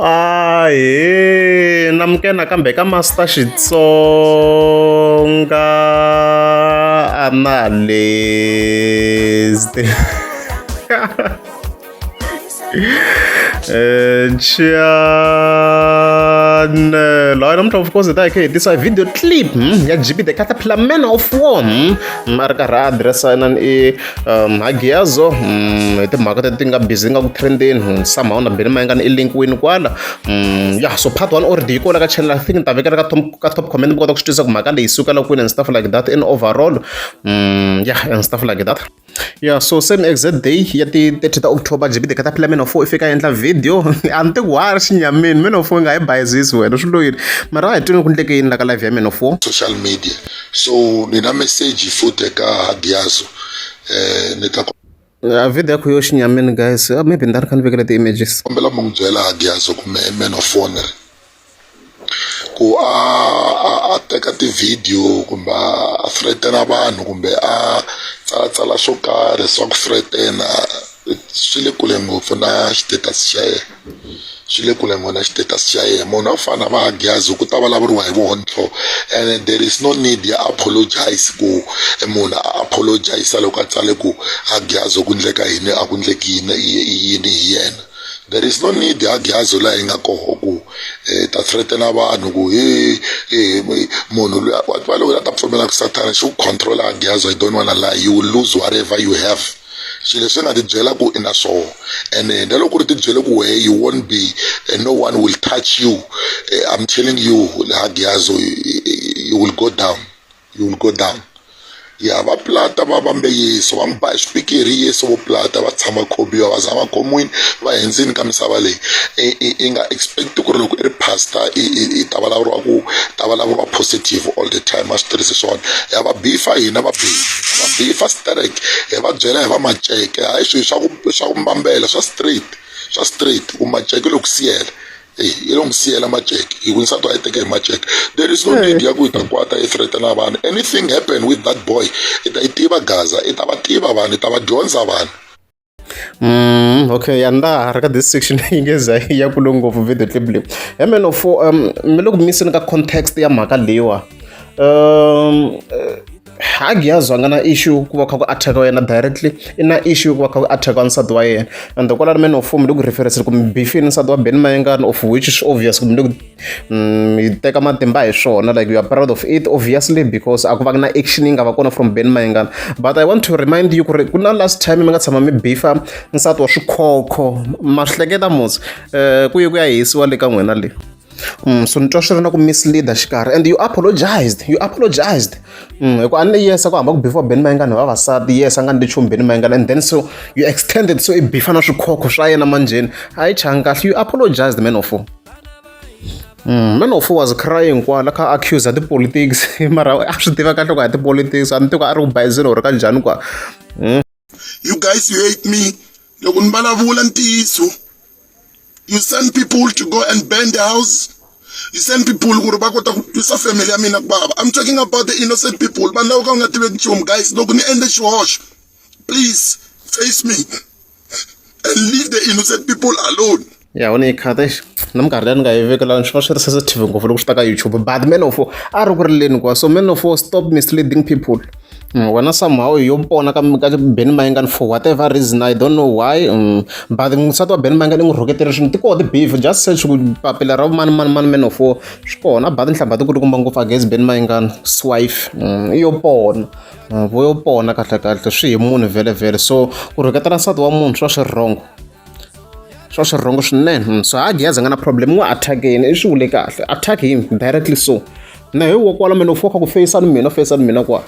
ahe namukena kambe ka master xitsonga analyst chanelo hayi namuntlha of course hi ta hi khe hi tisa video clip ya gp the caterpillar man of war a ri karhi a address inani i um magiyazo um hi timhaka teti ti nga busy ti nga ku trendeni hmm, somehow na beni ma nga ni i link wini kwala um ya so part one already yi kona ka channel i think ni ta vekela ka top ka top comment mi kota ku swi twisisa ku mhaka leyi sukela kwini and stuff like that in overall um ya and stuff like that yeah so same exact day ya ti 30 ta october jibide ka ta phila meno fo ifika endla video a ni teku wari xinyamini meno fo nga yi bayizisi wena swi loyini mara a hi twini ku ndleke yini la ka live ya meno fo social media so ni na message futhi eka hadiyazo eh ni ta a video yakho yo xinyamini guys ah, maybe ndari kha ni vekela ti-images kombela mi n'wi byela hadiyazo kumbe man of honor ku a a teka ti-video kumbe a threatena vanhu kumbe a tsalatsala swo karhi swa ku threatena swi le kule ngopfu na xitatus xa yena swi le kule ngona status xa yena munhu a fana va gyazi ku ta vulavuriwa hi vontlho and there is no need ya apologize ku munhu a apologize loko a tsale ku a gyazi ku ndleka yini a ku ndleki yini yini hi yena there is no need ya gyazi laha yi nga koho ku eh, ta threatena vanhu ku he eh, munhu loyi va loko a ta pfumela ku sathana xi ku controla gyazi i don't wanna lie you will lose whatever you have swilo leswi nga tibyela ku i na swona and eh, na loko ri tibyele ku wehe you won't be eh, no one will touch you eh, i'm telling you hagiyazo you will go down you will go down ya va plata va vambe yesu va n'wi ba hi swipikiri yesu vo plata va tshama khobiwa va zama khomwini va hendzini ka misava leyi i nga expect ku ri loko i ri pastor i ta vulavuriwa ku ta vulavuriwa positive all the time a swi tirhisi swona ya va bifa hina va bifa vabihi fa sterek hi va byela hi va maceke hayi swilo swa ku swa ku mbambela swa straight swa straight ku maceke loko siyela eyi yi lo n'wi siyela maceke hi ku nsati wa yi teke hi maceke there is no hmm. need ya ku yi ta kwata yi threatena vanhu anything happen with that boy i ta yi tiva gaza i ta va tiva vanhu i ta va dyondza vanhu Mm, okay ya ndaha ri ka this section yi nge za yi ya kule ngopfu video clip leyi ya meno fo um mi le ku miseni ka context ya mhaka leyiwa um eh, hagi ya zwanga na issue ku va kha ku attacka yena directly i na issue ku va kha ku attacka nsati wa yena and kwalani meno fo mi le ku reference kumbe bifini nsati wa ben mayengani of which is obvious kumbe le ku Mm, yi teka matimba hi swona like you are proud of it obviously because a ku va na action yi nga va kona from ben mayengana but i want to remind you ku ri ku na last time mi nga tshama mi bifa nsati wa swikhokho ma swi hleketa mos um eh, ku ye ku ya hisiwa le ka n'wina le Mm, so ni twa swi ri na ku misleader xikarhi and you apologized you apologized mm, hi ku a ni yes ku hamba ku before ben mayengana vavasati yes a nga ni ndi chumu ben mayengana and then so you extended so i bifa na swikhokho swa yena manjheni a yi changi kahle you apologized man of me no fool was crying kwala kha accuser tipolitics mara a swi tiva kahle ku a tipolitics a ni tiva a ri ku bayizini or ka njhani kwa hmm? you guys you hate me loko ni vulavula ntiyiso you send people to go and burn the house you send people ku ri va kota ku twisa family ya mina ku baba i'm talking about the innocent people vanhu lava ka u nga tiveki nchumu guys loko ni endle xihoxo please face me and leave the innocent people alone ya wona yikhata exi na minkarhi leyi ni nga yi vekelani swi va swi ri sensitive ngopfu loko swi ta ka youtube but man of a ri ku ri leni kwa so man of stop misleading people mm, wena somehow yo pona ka ka ben mayingani for whatever reason i don't know why mm, but nsati wa ben mayingani i n'wi rhuketele swinhu ti koho ti-beef just search ku papila ra mani mani mani man of swi kona but nhlamba ti ku ti kumba ngopfu against ben mayingani swife mm, yo pona vo yo pona kahlekahle swi hi munhu vhelevhele so ku rhuketela nsati wa munhu swa swi rhongo swa swi rhongo swinene hmm, so ha gezi nga na problem n'wi attack yini i swi vule kahle attack him directly so na hi wa kwala mina u foka ku feyisani mina feyisani mina kwa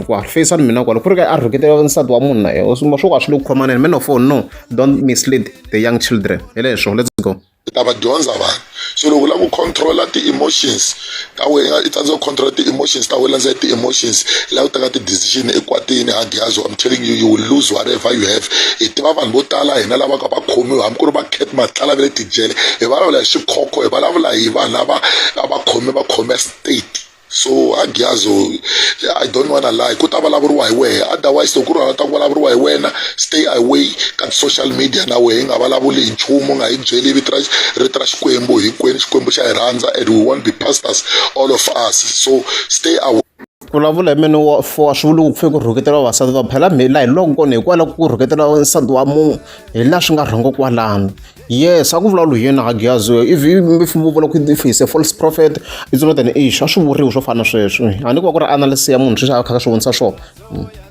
kwa feyisani mina kwala ku ri ka a rhuketela nsati wa munhu na yena swo ka swi le ku khomaneni man of all no don't mislead the young children hi leswo let's go u ta va dyondza vanhu so loko u lava ku control-a ti-emotions ta wena i tsandzeka ku control-a ti-emotions ta wena landzelela ti-emotions i lava ku teka ti-decision ekwatini ha ghiyazi I'm telling you you will lose whatever you have hi tiva vanhu vo tala hina lava ka va khomiwa hambi ku ri va cat matlala va le tijele hi vulavula hi swikhokho hi vulavula hi vanhu lava a va khome va khome state. so agiazo i don't wanna lie ku ta vulavuriwa hi wehe otherwise loko ku ri wena ta ku vulavuriwa hi wena stay away ka social media na wehe hi nga vulavuli hi nchumu nga hi byeli vito ra rito ra xikwembu hinkwenu xikwembu xa hi rhandza and we won't be pastors all of us so stay away vulavula hi mene wa fowa swi vula ku pfe ku rhuketela vavasati va phela mhela hi loko kona hikwalaho ku rhuketela nsati wa munhu hi laha swi nga rhongo kwalano yes a ku vulavula hi yena agiyazi if if vo vula ku if he's a false prophet it's not an issue a swi vuriwi swo fana sweswi a ni ku va ku ri analysis ya munhu sweswi a kha ka swi vonisa swona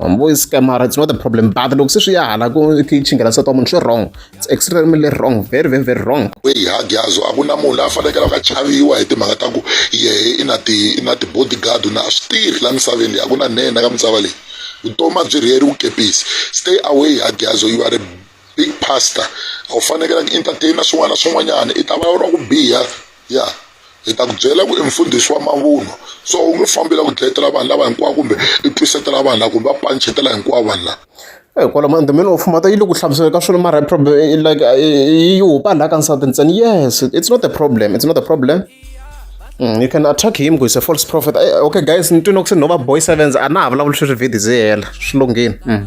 ma vo scamara it's not a problem but loko se swi ya hala ku chinghela nsati wa munhu swi wrong it's extremely wrong very very very wrong kweyi agiyazo a ku na munhu la a fanekele a ka chaviwa hi timhaka ta ku yehe i na ti i na ti-bodyguard na a swi tirhi la misaveni leyi a ku na nene ka misava leyi vutomi a byi rheri wukepisi stay away agiyazo you are a big pastor a wu fanekela ku entertaina swin'wana na swin'wanyana i ta va ra ku biha ya hi ta ku byela ku i mfundhisi wa mavunwa so u nge fambi la ku dlayetela vanhu lava hinkwavo kumbe i twisetela vanhu lava kumbe va panchetela hinkwavo vanhu lava Eh, kwala mandhumeni of mhata yi le ku hlamusela ka swona mara problem eh, eh, like yi hupa laha ka nsati ntsena yes it's not a problem it's not a problem Mm, you can attack him ku is a false prophet okay guys ni twini ku se no va boy sevens a na ha vulavuli sweswi vhidi zi hela swi lunghini mm.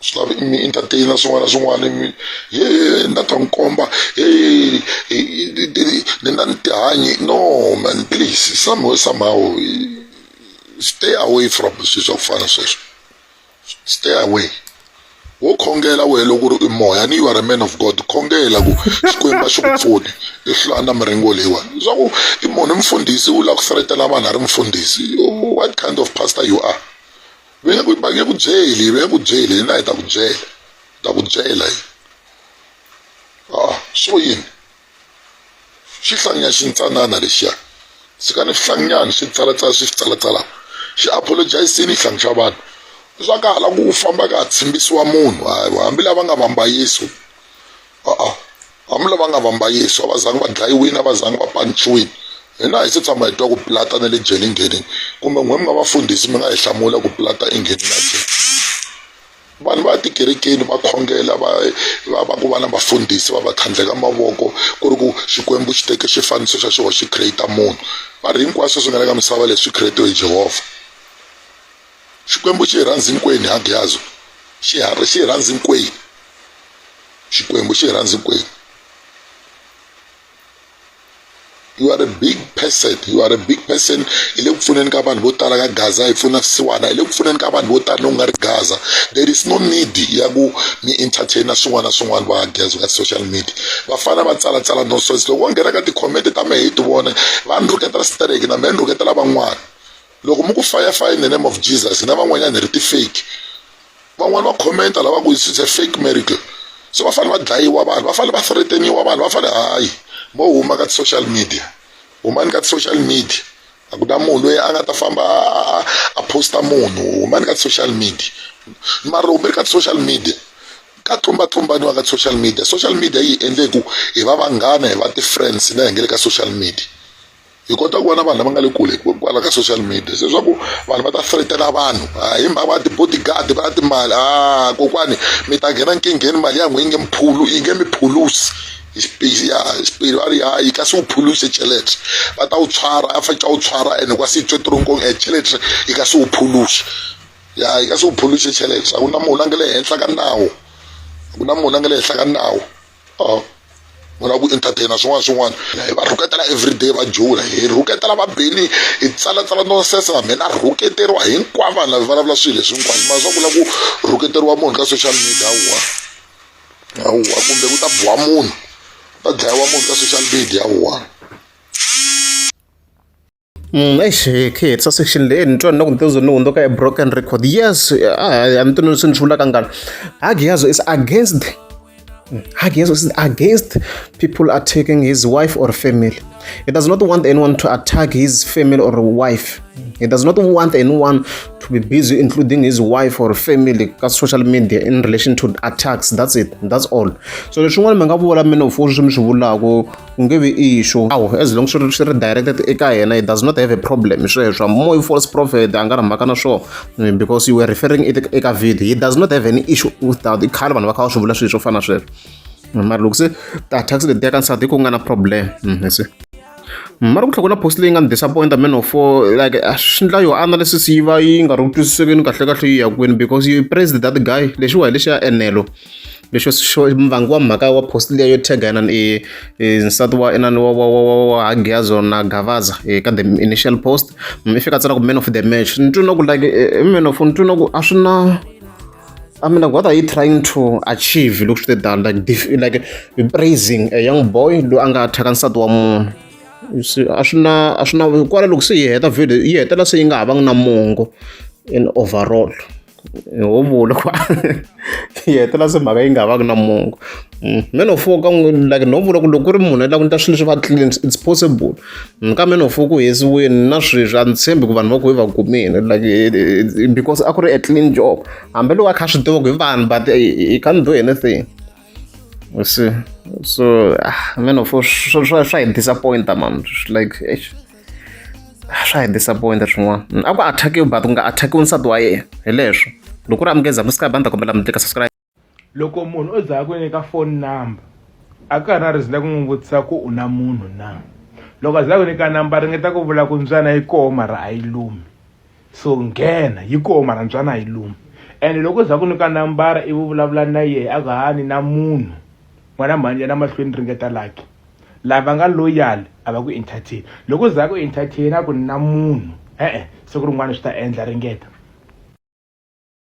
swi lavi mi entertainer swin'wana na swin'wana mi ye ni ta ta n'wi komba ni na ni tihanyi no man please somehow somehow stay away from swilo swa ku fana sweswo stay away wo khongela wehe loko ri i moya ni you are a man of god khongela ku xikwembu a xi ku pfuni i hlaya na miringo leyiwani leswaku i munhu i mfundhisi u lava ku seletela vanhu a ri mfundhisi what kind of pastor you are va nge ku va nge ku byeli va nge ku byeli hina hi ta ku byela ta ku byela yi ah swo yini xi hlanganya xintsanana lexiya tshikani swi hlanganyani swi tsalatsala swi swi tsalatsala xi apologizini hlangi xa vanhu swa ka hala ku famba ka ha tshimbisiwa munhu hambi lava nga vambayiso a-a Amula va nga vamba Yesu, a va zangi va dlayiwini, a va zangi va panciwini. Hina hi se tshama hi twa ku Pilata na le jele nghenini. Kumbe n'we mi nga vafundhisi mi nga hi hlamula ku Pilata i nghenini a jele. Vanhu va ya tikerekeni va khongela va va va ku va na vafundhisi va va tlhandleka mavoko ku ri ku Xikwembu xi teke xifaniso xa xoho xi create munhu. Va ri hinkwaswo swi nga le ka misava leswi create-we hi Jehovha. xikwembu xi rhandzi nkweni ha gyazo xiharhi xi rhandzi nkweni xikwembu xi rhandzi nkweni you are a big person you are a big person hi le ku pfuneni ka vanhu vo tala ka gaza hi pfuna swisiwana hi le ku pfuneni ka vanhu vo tala loku nga ri gaza there is no need ya ku mi entertaina swin'wana na swin'wana va gaza ka social media vafana va tsalatsala nonsense loko va nghena ka tikhomete ta mehe hi ti vona va ni rhuketela stereki na mehe ni rhuketela van'wana Loko mi ku fire fire in the name of Jesus hina van'wanyana hi ri ti-fake van'wani va commenta lava ku it's a fake miracle so va fanele va dlayiwa vanhu va fanele va threateniwa vanhu va fanele hayi mo huma ka ti-social media humani ka ti-social media a ku na munhu loyi a nga ta famba a posta munhu humani ka ti-social media mara loko mi ri ka ti-social media ka tlumbatlumbaniwa ka ti-social media social media yi hi endle ku hi va vanghana hi va ti-friends na hi nge le ka social media hi kota ku va na vanhu lava nga le kule kwala ka social media se swa ku vanhu va ta threatela vanhu ah, hi mhaka va ti-bodyguard va na timali a ah, kokwani mi ta nghena nkingheni mali ya n'wi yi nge miphulu yi nge miphulusi ya xipiri va ri hayi ka se u phuluse chelete va ta u tshwara a fanele u tshwara ene kwa se tswe tironkong e chelete yi ka se u phuluse ya yi ka se u phuluse chelete a ku na munhu a nga le henhla ka nawu a ku na munhu a nga le henhla ka nawu oh. vona ku entertaina swin'wana swin'wana hi va rhuketela everyday va jula hi rhuketela vabeli hi tsalatsala nonsese na mina rhuketeriwa hinkwavo vanhu lava vulavula swilo leswi hinkwaswo mara swa vula ku rhuketeriwa munhu ka social media wa wa kumbe ku ta biwa munhu ta dlayiwa munhu ka social media wa Mm, eish kid sa section leyi ni twa ni loko ni tezo ni hundzuka a broken record yes a ni tweni leswi ni swi vulaka ngani hagiyazo is against mm, hagiyazo is against people attacking his wife or family he does not want anyone to attack his family or wife he does not want anyone to be busy including his wife or family ka social media in relation to attacks that's it that's all so leswin'wana mi nga vula mina u fo swi mi swi vulaka ku nge vi issue awu as long swi ri swi ri directed eka yena he does not have a problem hi sweswo more you false prophet a nga ri mhaka na swona eh, because you were referring it eka video he does not have any issue with that i khale vanhu va kha va swi vula swilo swo fana na sweswo eh, mara loko se tax leti ya ka nsati ku nga na problem hmm, se hmm, mara ku tlhela ku na post leyi nga ni disappointa man of four like ah, swi ndla yo analysis yi va yi nga ri ku twisisekeni kahlekahle yi ya kwini because you praised that guy lexiwa hi lexiya enelo lexo xo vangi wa mhaka wa post leyi yo tag inana i nsati wa inana wa wa wa wa wa Hagiazo na Gavaza ka the initial post mi fika tsala ku man of the match ni twi na ku like man of ni twi na ku a swi na I mean, like, what are you trying to achieve? Look at that, like, def- like praising a young boy loyi a nga thyaka nsati wa munhu You see, a swi na a swi na kwala loko se yi heta video yi hetelela se yi nga ha vangi na mongo in overall ho vula ku yi hetela se mhaka yi nga vaki na mongo mm, man of war ka n'wi like no vula ku loko ku ri munhu la ku ni ta swilo leswi va clean it's possible mm, ka man of war ku hesiweni na sweswi a ni tshembi ku vanhu va ku hi va kumile like eh, eh, eh, because a ku ri a clean job hambi loko a kha swi tiva ku hi vanhu but he can't do anything you see so ah, man of war swa hi disappointa man like swa hi disappointa swin'wana mm, a ku attackiwi but ku nga attackiwi nsati wa yena hi leswo loko ri amukeza musika banda kombela mi tlika subscribe loko munhu o za ku nyika phone number a ka ha na reason ya ku n'wi vutisa ku u na munhu na loko a za ku nyika number ringeta ku vula ku mbyana yi koho mara a yi lumi so nghena yi koho marantswana hi lomu ene loko u za ku nyika nambara ivi u vulavula na yehe a ku ha ni na munhu n'wana mhanje na mahlweni ringeta laki lava nga loyal a va ku entertain loko u za ku entertain a ku ni na munhu e-e siku rin'wana swi ta endla ringeta